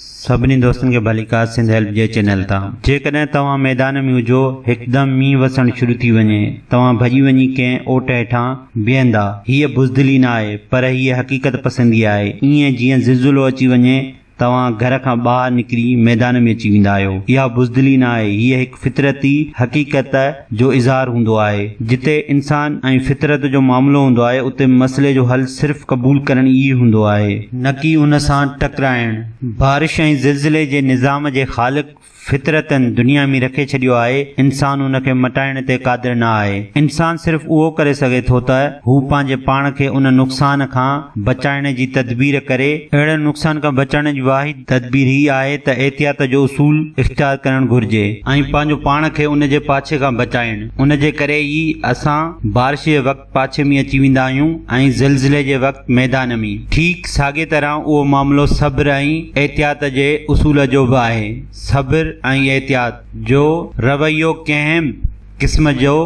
سڀني دوستن کي ڀليڪار سنڌ هيلپ جي چينل تان جيڪڏهن توهان ميدان ۾ هجو هڪدم مينهن وسڻ شروع ٿي وڃي توهان ڀڄي وڃي ڪنهن اوٽ هيٺان بيهندا هيء بزدلي نه آهي پر هيء حقيقت پسندي آهي ايئن جيئن زلزلو اچي وڃي توهان گهر کان ٻاهر نڪري ميدان ۾ اچي ويندا آهيو اها بزدلي نه آهي هيء هڪ فطرتي حقيقت جو اظهار هوندو آهي. جتي انسان ۽ فطرت جو معاملو هوندو آهي اتي مسئلي جو حل صرف قبول ڪرڻ ئي هوندو آهي. نه ڪي ان سان ٽڪرائڻ. بارش ۽ زلزلي جي نظام جي خالق فطرت دنيا ۾ رکي ڇڏيو آهي انسان ان کي مٽائڻ تي قادر نه آهي. انسان صرف اهو ڪري سگهي ٿو ته هو پنهنجي پاڻ کي ان نقصان کان بچائڻ جي تدبير ڪري. اهڙن نقصان کان بچڻ جي واحد. تدبير هي آهي ته احتياط جو اصول اختيار ڪرڻ گهرجي ۽ پنهنجو پاڻ کي ان جي پاڇي کان بچائڻ ان جي ڪري ئي اسان بارش جي وقت پاڇي ۾ اچي ويندا آهيون ۽ زلزلي جي وقت ميدان ۾. ٺيڪ ساڳي طرح اهو معاملو صبر ۽ احتياط جي اصول جو به آهي. صبر ۽ احتياط جو رويو ڪنهن به قسم جو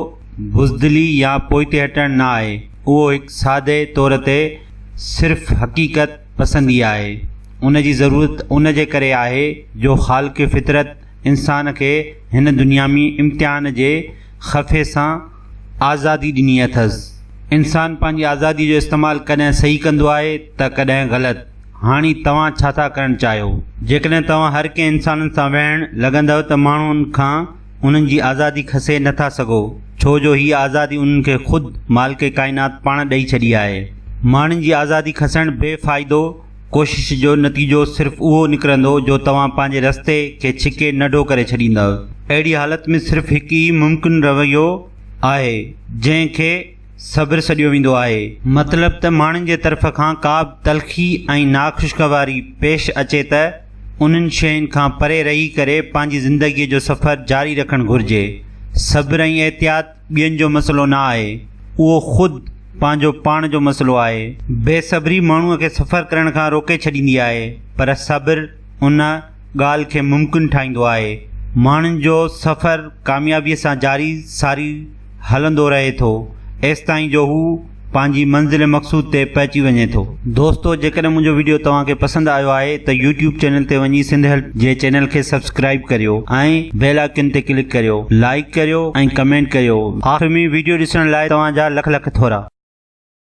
بزدلي يا پوئتي هٽڻ نه آهي. اهو هڪ سادي طور تي صرف حقيقت پسندي آهي، ان جي ضرورت ان جي ڪري آهي جو خالق فطرت انسان کي هن دنيامي امتحان جي خفي سان آزادي ڏني اٿس. انسان پنهنجي آزادي جو استعمال ڪڏهن صحيح ڪندو آهي ته ڪڏهن غلط. هاڻي توهان ڇا ٿا ڪرڻ چاهيو؟ جيڪڏهن توهان هر ڪنهن انسانن سان ويهڻ لڳندؤ ته ماڻهن کان انهن جي آزادي کسي نه ٿا سگهو، ڇو جو هيء آزادي انهن کي خود مالڪ ڪائنات پاڻ ڏئي ڇڏي آهي. ماڻهن جي آزادي کسڻ بي فائدو ڪوشش جو نتيجو صرف اهو نڪرندو جو توهان پنهنجي رستي کي ڇڪي ننڍو ڪري ڇڏيندؤ. اهڙي حالت ۾ صرف هڪ ئي ممڪن رويو آهي جنهن کي. صبر سڏيو ويندو آهي. مطلب ته ماڻهن جي طرف کان ڪا به تلخي ۽ ناخوشگواري پيش اچي ته انهن شين کان پري رهي ڪري پنهنجي زندگيء جو سفر جاري رکڻ گهرجي. صبر ۽ احتياط ٻين جو مسئلو نه آهي، اهو خود پنهنجو پاڻ جو مسئلو آهي. بي صبري ماڻهوء کي سفر ڪرڻ کان روڪي ڇڏيندي آهي، پر صبر ان ڳالهه کي ممڪن ٺاهيندو آهي. ماڻهن جو سفر ڪاميابيء سان جاري ساري. هلندو رهي ٿو، ايستائين جو هو پنهنجي منزل مقصود تي پهچي وڃي ٿو. دوستو جيڪڏهن منهنجو وڊيو توهان کي پسند آيو آهي ته يوٽيوب چينل تي وڃي سنڌ هيلپ جي چينل کي سبسڪرائيب ڪريو ۽ بيل آئڪن تي ڪلڪ ڪريو لائيڪ ڪريو ۽ ڪمينٽ ڪريو آخر ۾ وڊيو ڏسڻ لاء توهان جا لک لک ٿورا.